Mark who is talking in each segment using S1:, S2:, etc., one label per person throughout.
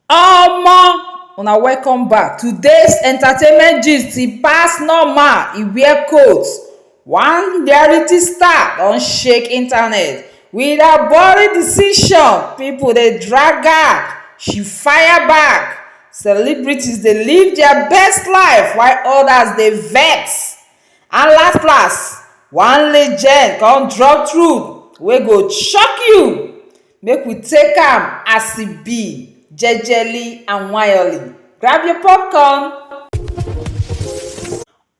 S1: Omo! Una welcome back. Today's entertainment gist e pass normal, e wear coat. One reality star don shake internet with her boring decision, pipu dey drag her, she fire back, celebrities dey live dia best life while odas dey vex and last last one legend kon drop truth wey go shock you. Make we take am as e be, jejely and wayoli. Grab your popcorn.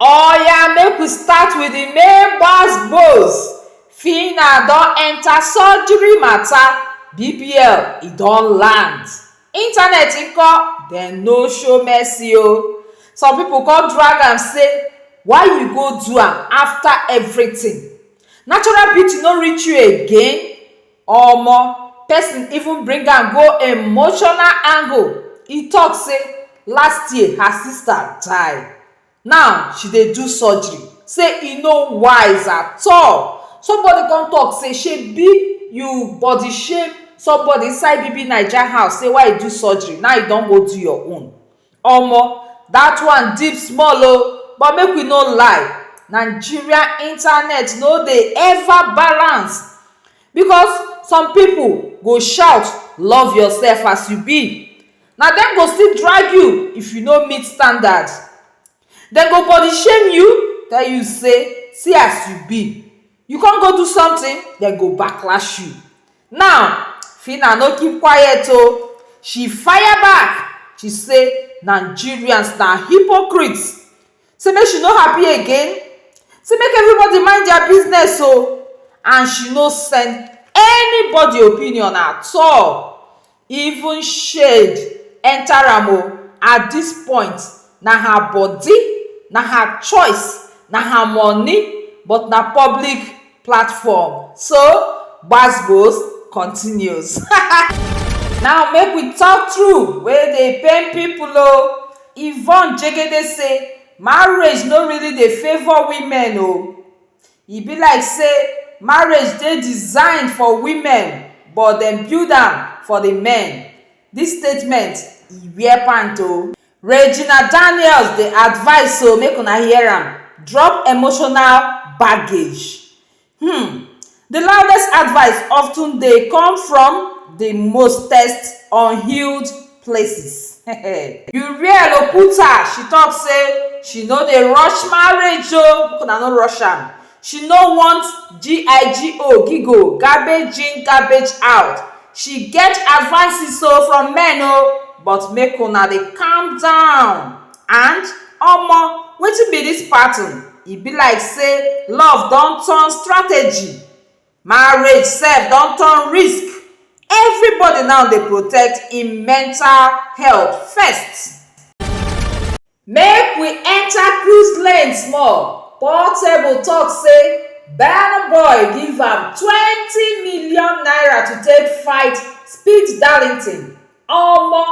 S1: Oya make we start with the main gbas gbos, Phyna don enter surgery matter, BBL e don land. Internet nko? Dem no show mercy o. Some people come drag am say why you go do am after everything? Natural beauty no reach you again? Omo, person even bring am go emotional angle, e talk say last year her sister die, now she dey do surgery, say e no wise at all. Somebody come talk say shebi you body shame somebody inside BBNaija house say why you do surgery, now you don go do your own. Omo that one deep small oh but make we no lie Nigeria internet no dey ever balance because some people go shout love yourself as you be na dem go still drag you if you no meet standard Dem go body shame you, tell you say see as you be. You come go do something, dem go backlash you. Now, Phyna no keep quiet o, she fire back, she say Nigerians na hypocrites, say make she no happy again, say make everybody mind their business o and she no send anybody opinion at all. even shade enter am o at this point na her body na her choice na her money but na public platform so gbas gbos continues now make we talk true wey dey pain people o Yvonne Jegede say marriage no really dey favour women o. E be like say marriage dey designed for women but dem build am for the men, this statement e wear pant o. Regina Daniels dey advise so make una hear am, drop emotional baggage. Hmm The loudest advice often dey come from the mostest unhealed places. Uriel Oputa she talk say she no dey rush marriage o, make una no rush am, she no want GIGO, gigo, garbage in garbage out, she get advices o from men o but make una dey calm down and omo wetin be this pattern e be like say love don turn strategy. Marriage sef don turn risk, everybody now dey protect im mental health first. Make we enter cruise lane small, Portable talk say Burna Boy give am twenty million naira to take fight speed Darlington, omo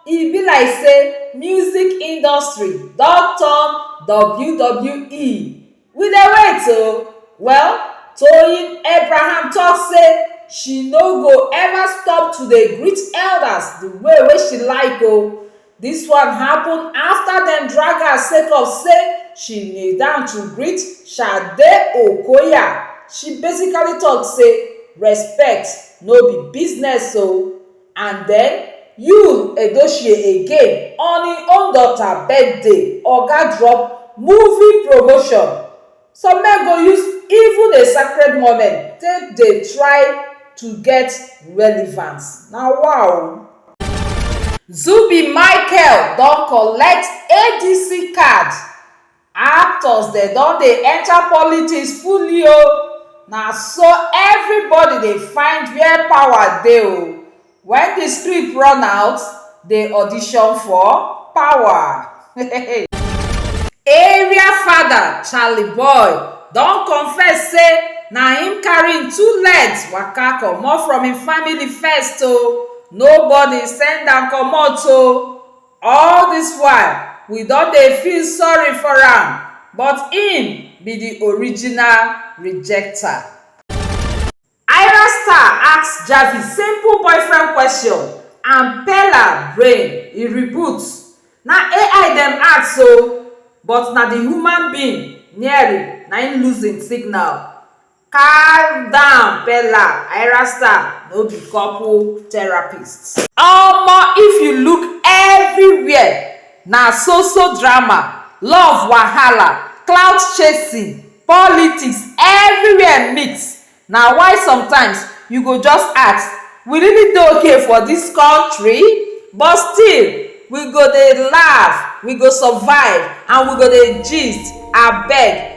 S1: e be like say music industry don turn WWE We dey wait o. Well, Toyin Abraham talk say she no go ever stop to dey greet elders the way wey she like o. This one happen after dem drag her sake of say she kneel down to greet Shade Okoya. She basically talk say respect no be business o. And den Yul Edochie again on im own daughter birthday oga drop movie promotion, some men go use even a sacred moment take dey try to get relevance, na wa o. Zubby Michael don collect ADC card Actors dem don dey enter politics fully o, na so everybody dey find where power dey o, when the script run out, dey audition for power. Area fada Charly Boy don confess say na him carry him two legs waka comot from him family first o, nobody send am comot o. All dis while, we don dey feel sorry for am, but im be di original rejecter. Ayra Starr ask Javi simple boyfriend question and Perla brain e reboot. Na ai dem ask o, but na di human being Neri na im lose im signal. Calm down Bella, Ayra Starr no be couple therapist. Omo if you look everywhere na so so drama, love wahala, clout chasing, politics everywhere mix na why sometimes you go just ask we really dey ok for this country? But still we go dey laugh, we go survive and we go dey gist abeg